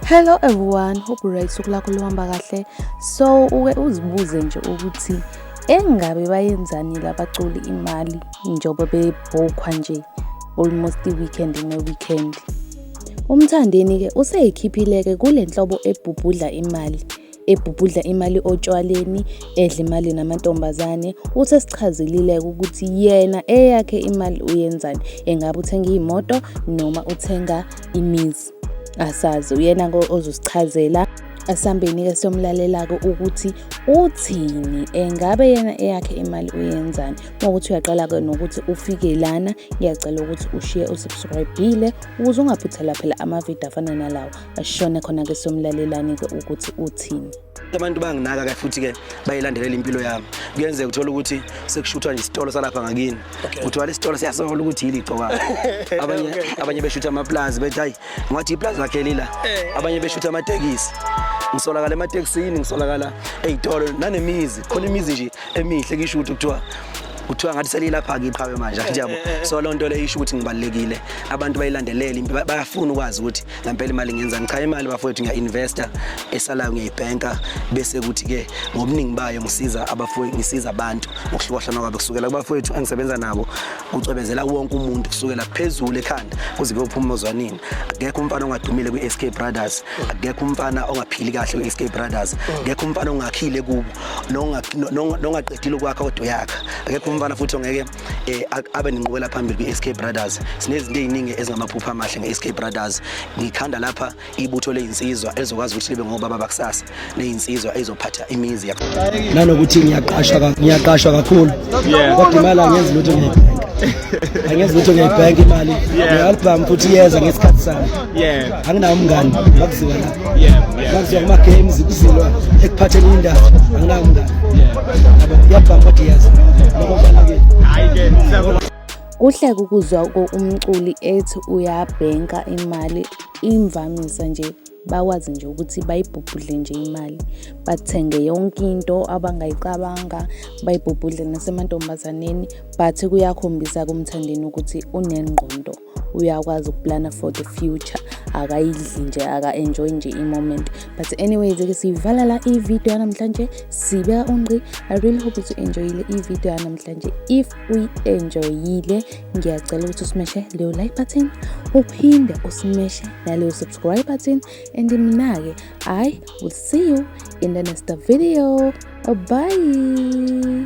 hello everyone hope right usuku lakho luhamba kahle so uke uzibuze nje ukuthi engabe bayenzani labaculi imali njengoba bebhokhwa nje almost i-weekend ne-weekend umthandeni-ke useyikhiphile-ke kule nhlobo ebhubhudla imali ebhubhudla imali otshwaleni edla imali namantombazane uthi esichazelile-ke ukuthi yena eyakhe imali uyenzani engabe uthenga iy'moto noma uthenga imizi asazi uyena ozosichazela asambeni-ke somlalelako ukuthi uthini engabe yena eyakhe imali uyenzani ngokuthi uyaqala-ke nokuthi ufike lana ngiyacela ukuthi ushiye usubscribile ukuze ungaphuthela phela amavidiyo afana nalawo ashone khona-ke somlalelani-ke ukuthi uthini abantu banginaka ke futhi-ke bayilandelela impilo yami kuyenzeka uthole ukuthi sekushuthwa nje isitolo salapha ngakini kuthiwa lesi sitolo siyasola ukuthi yili igcoka abanye abanye beshutha amaplazi bethi hayi ngathi iplazi lakhe lila eh. abanye beshutha amatekisi ngisolakala ematekisini ngisolakala ey'tolo nanemizi khona imizi nje emihle kisho ukuthi kuthiwa kuthiwa ngathi selilapha kiqhawe manje nje yabo so loo nto leyo isho ukuthi ngibalulekile abantu bayilandelele bayafuna ukwazi ukuthi ngempela imali ngenza ngichaya imali bafowethu ngiya-investa esalayo ngiyayibhenka bese kuthi-ke ngobuningi bayo ngisiza abafowethu ngisiza abantu ngokuhlukahlana kwabo kusukela kubafowethu engisebenza nabo kucwebezela wonke umuntu kusukela phezulu ekhanda kuze kuyophuma ozwanini akekho umfana ongadumile kwi-sk brothers akekho umfana ongaphili kahle kwi-sk brothers akekho umfana ongakhile kubo nongaqedile ukwakha kodwa uyakha akekho umfana futhi ongeke eh abe nenqubela phambili kwiSK Brothers sinezinto eziningi ezingamaphupha amahle ngeSK Brothers ngikhanda lapha ibutho lezinsizwa ezokwazi ukuthi libe ngobaba bakusasa lezinsizwa ezophatha imizi yakho nanokuthi ngiyaqashwa ngiyaqashwa kakhulu kodwa imali angenzi lutho ngiyibhenka angenzi lutho ngiyibhenka imali ngiyaluphamba futhi yeza ngesikhathi sami anginawo umngani makuziwa la makuziwa kuma-games kuzilwa ekuphatheni indawo anginawo umngani yabo iyabhanga kodwa iyazi lokho kubalulekile Kuhle ukuzwa umculi ethi uyabhenka imali imvamisa nje bakwazi nje ukuthi bayibhubhudle nje imali bathenge yonke into abangayicabanga bayibhubhudle nasemantombazaneni but kuyakhombisa kumthandeni ukuthi unengqondo. uyakwazi ukuplana for the future akayidli nje aka-enjoy nje i-moment but anyways ke siyivala la i-video yanamhlanje sibeka ungqi i really hope ukuthi u-enjoyile i-video yanamhlanje if uyi-enjoyile ngiyacela ukuthi usimeshe leyo like button uphinde usimeshe naleyo subscribe button and mina-ke i will see you in the next video bye